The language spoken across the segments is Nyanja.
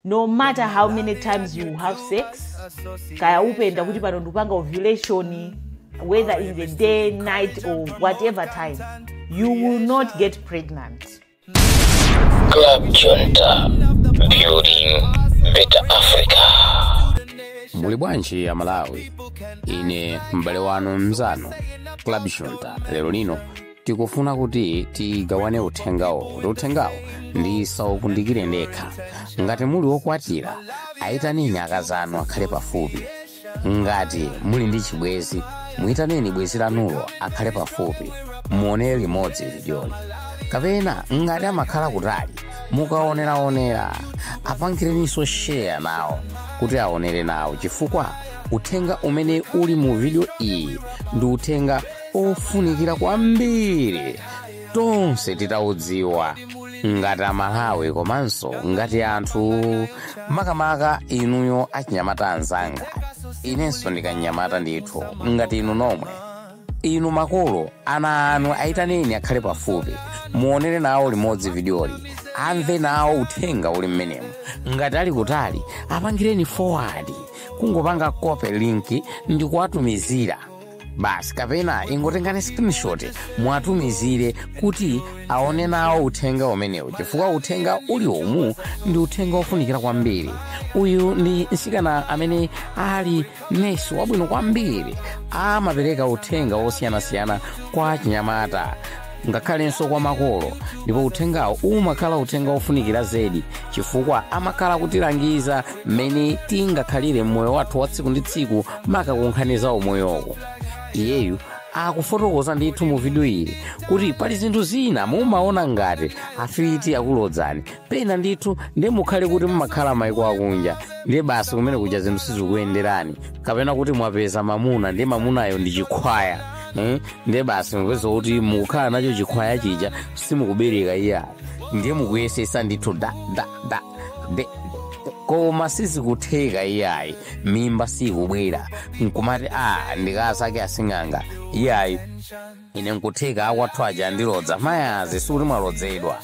no matter how many times you have sex kaya upenda kuti pano ndikupanga ovulation whether in the day night or whatever time you will not get pregnant Club Junta, building better Africa. muli bwanji ya malawi ine m'bale wanu mzanu Club Junta lero lino tikufuna kuti tigawane uthengawo kuti uthengawo ndisaukundikire ndekha ngati muli wokwatira ayitaneni akazanu akhale pafupi ngati muli ndi chibwezi muyitaneni bwezi lanulo akhale pafupi muonere limodzi vidyoli kapena ngati amakhala kutali mukaoneraonera apangireninso sheya nawo kuti aonere nawo chifukwa uthenga umene uli mu vidiyo iyi ndi uthenga ofunikira kwambiri tonse titaudziwa ngati amalawi komanso ngati anthu makamaka inuyo achinyamata anzanga inenso ndikanyamata ndithu ngati inu nomwe inu makolo ana anu ayitaneni akhale pafupi muonere nawo limodzi vidiyoli amve nawo uthenga uli mmenemu ngati ali kutali apangireni forward kungopanga copy link ndi kuwatumizira basi kapena ingotengani screenshot muwatumizire kuti aone nawo uthenga umenewu chifukwa uthenga uli umu ndi uthenga wofunikira kwambiri uyu ndi mtsikana amene ali nesi wabwino kwambiri amapereka uthenga wosiyanasiyana kwa achinyamata ngakhalenso kwa makolo ndipo uthengawo umakhala uthenga wofunikira zedi chifukwa amakhala kutilangiza mmene tingakhalire mmoyo wathu wa tsiku ndi tsiku maka kunkhani za umoyoko iyeyu akufotokoza ndithu mu vidiyo iyi kuti pali zinthu zina mumaona ngati afiti akulodzani pena ndithu ndiye mukhale kuti mumakhala maiko akunja ndiye basi kumene kuja zinthu sizikuyenderani kapena kuti mwapeza mamuna ndiye mamunayo ndi chikhwaya eh? ndiye basi mupeza kuti mukukhala nacho chikhwaya chija simukubereka iya ndiye mukuyesesa ndithu da da da Nde- koma sizikutheka iyayi mimba sikubwera nkumati a ndikasake asing'anga iyayi ine nkutheka akwathu aja andilodza mayazi sikuti mwalodzedwa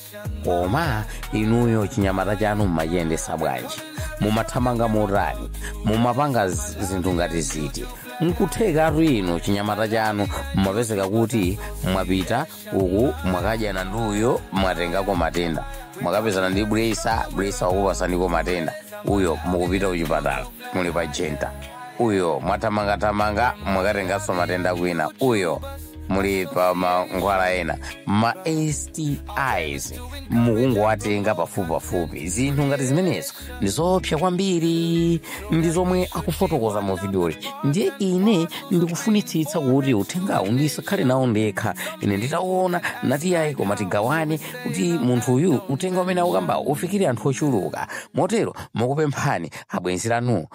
koma inuyo chinyamata chanu mumachiyendesa bwanji mumathamanga motani mumapanga z- zinthu ngati ziti nkuthekatu inu chinyamata chanu mumapezeka kuti mwapita uku mwakadyana ndi uyo mwatengako matenda mwakapezana ndi blesser blesser wakupasaniko matenda uyo mukupita kuchipatala muli pa genta uyo mwathamangathamanga mwakatenganso matenda kwina uyo muli pa mankhwala ena ma STIs mukungowatenga pafupipafupi zinthu ngati zimenezo ndi zoopsa kwambiri ndi zomwe akufotokoza mu vidiyoli ndiye ine ndikufunitsitsa kuti uthengawu ndisakhale nawo ndekha ine nditaona nati yayi koma tigawane kuti munthu uyu uthenga umene akukambawo ufikire anthu ochuluka motero ndikupemphani abwenzi lanu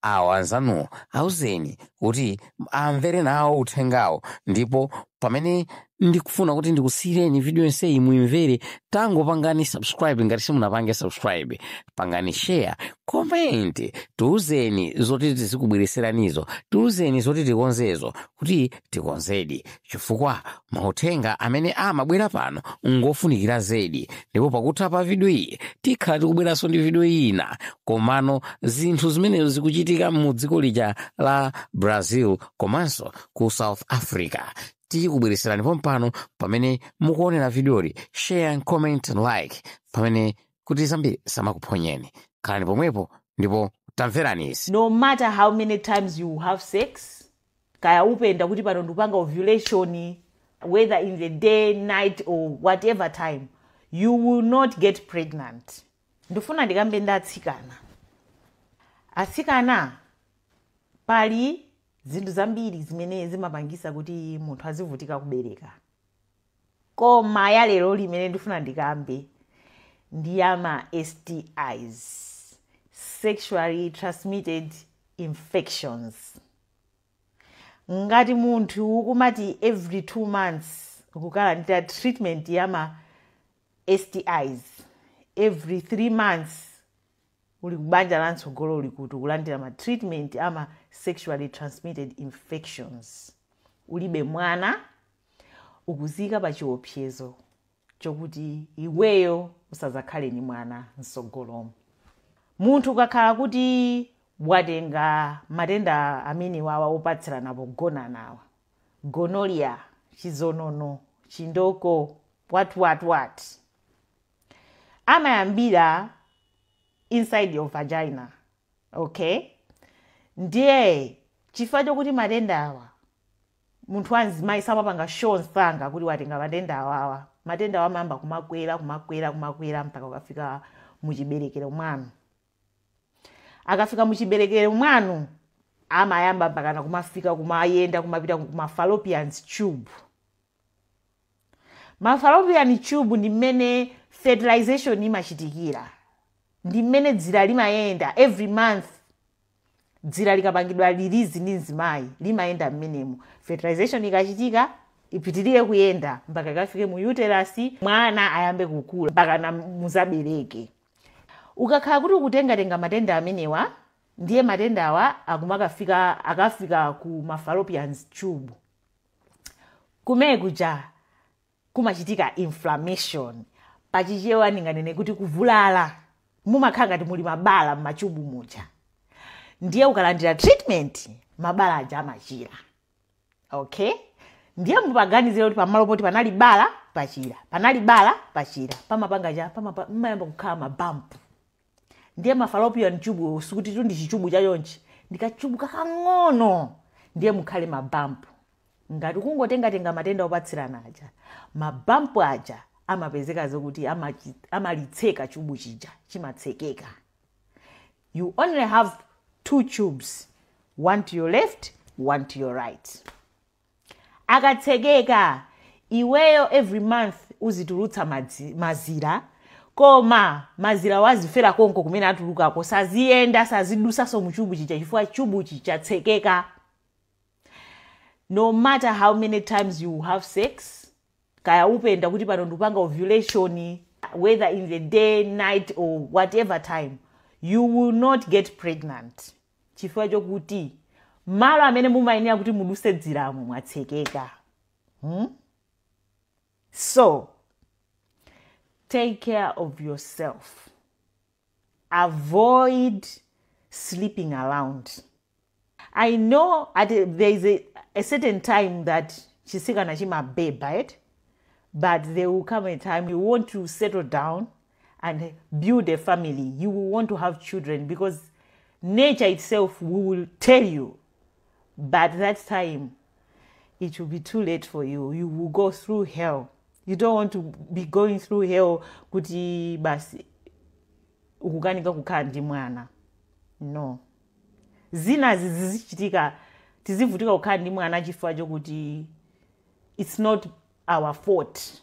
awo anzanuwo auzeni kuti amvere nawo uthengawo ndipo pamene ndikufuna kuti ndikusiyireni video yonseyi muimvere tangopangani subscribe ngati simunapange subscribe pangani share comment tiuzeni zoti tizikubweretseranizo tiuzeni zoti tikonzezo kuti tikonzedi chifukwa mauthenga amene amabwera pano ngofunikira zedi ndipo pakutha pa vidiyo iyi tikhala tikubweranso ndi vidiyo ina komano zinthu zimenezo zikuchitika mu dziko lija la brazil komanso ku south africa tikubweretserani pompano pamene mukuonera vidiyoli share and comment and like pamene kuti zambiri zisamakuphonyeni khalani pomwepo ndipo tamverani izi No matter how many times you have sex, kaya upenda kuti pano ndikupanga ovulation whether in the day night or whatever time you will not get pregnant ndifuna ndikambe ndi atsikana atsikana pali zinthu zambiri zimene zimapangisa kuti munthu azivutika kubereka koma ya lero limene ndifuna ndikambe ndi ya ma stis sexually transmitted infections ngati munthu ukumati every two months ukukalandira treatment ya ma stis every three months uli kubanja la mtsogolo uli kuti ukulandira ma treatment ama sexually transmitted infections ulibe mwana ukuzika pa chiopsezo chokuti iweyo usazakhale ni mwana msogolomu munthu ukakhala kuti watenga matenda amene wawa opatsirana pogonanawa gonorrhea chizonono chindoko what what what amayambira inside your vagina okay ndiye chifukwa chokuti matenda awa munthu wa mzimayi samapanga show msanga kuti watenga matenda awawa matenda awa amayamba kumakwera kumakwera kumakwera mpaka kukafika muchiberekero mwanu akafika muchiberekero mwanu amayamba mpakana kumafika kumayenda kumapita ku ma fallopian tube ma fallopian tube ndi mmene fertilization imachitikira ndi mmene dzira limayenda every month dzira likapangidwa lirilizidwa ndi mzimayi limayenda mmenemu fertilization ikachitika ipitirire kuyenda mpaka ikafike mu uterus mwana ayambe kukula mpakana muzabereke ukakhala kuti ukutengatenga matenda amenewa ndiye matendawa akumakafika akafika ku ma fallopian tube kumene kuja kumachitika inflammation pachichewa ndinganene kuti kuvulala mumakhala ngati muli mabala m'machubu muja ndiye ukalandira treatment mabala aja amachira okay ndiye mupaganizire kuti pamalo poti panali bala pachira panali bala pachira pamapanga cha pamapa- mmayamba kukhala mabampu ndiye ma fallopian tubewo sikutitu ndi chichubu cha chonchi ndi kachubu kakang'ono ndiye mukhale mabampu ngati kungotengatenga matenda opatsirana aja mabampu aja amapezeka zokuti amachi- amalitseka chubu chija chimatsekeka you only have two tubes one to your left one to your right akatsekeka iweyo every month uzitulutsa madzi, mazira koma mazirawo azifera konko kumene atulukako saziyenda sazidusaso mu chubu chija chifukwa chubu chija chatsekeka no matter how many times you have sex kaya upende kuti pano ndikupanga ovulation whether in the day night or whatever time you will not get pregnant chifukwa chokuti malo amene mumayenera kuti muduse dziramo mwatsekeka hmm? so take care of yourself avoid sleeping around i know at a, there is a, a certain time that chisikana chimabeba eti but there will come a time you want to settle down and build a family you will want to have children because nature itself will tell you but that time it will be too late for you you will go through hell you don't want to be going through hell kuti basi ukukanika kukhala ndi mwana no zinazi zizichitika tizivutika kukhala ndi mwana chifukwa chokuti it's not our fault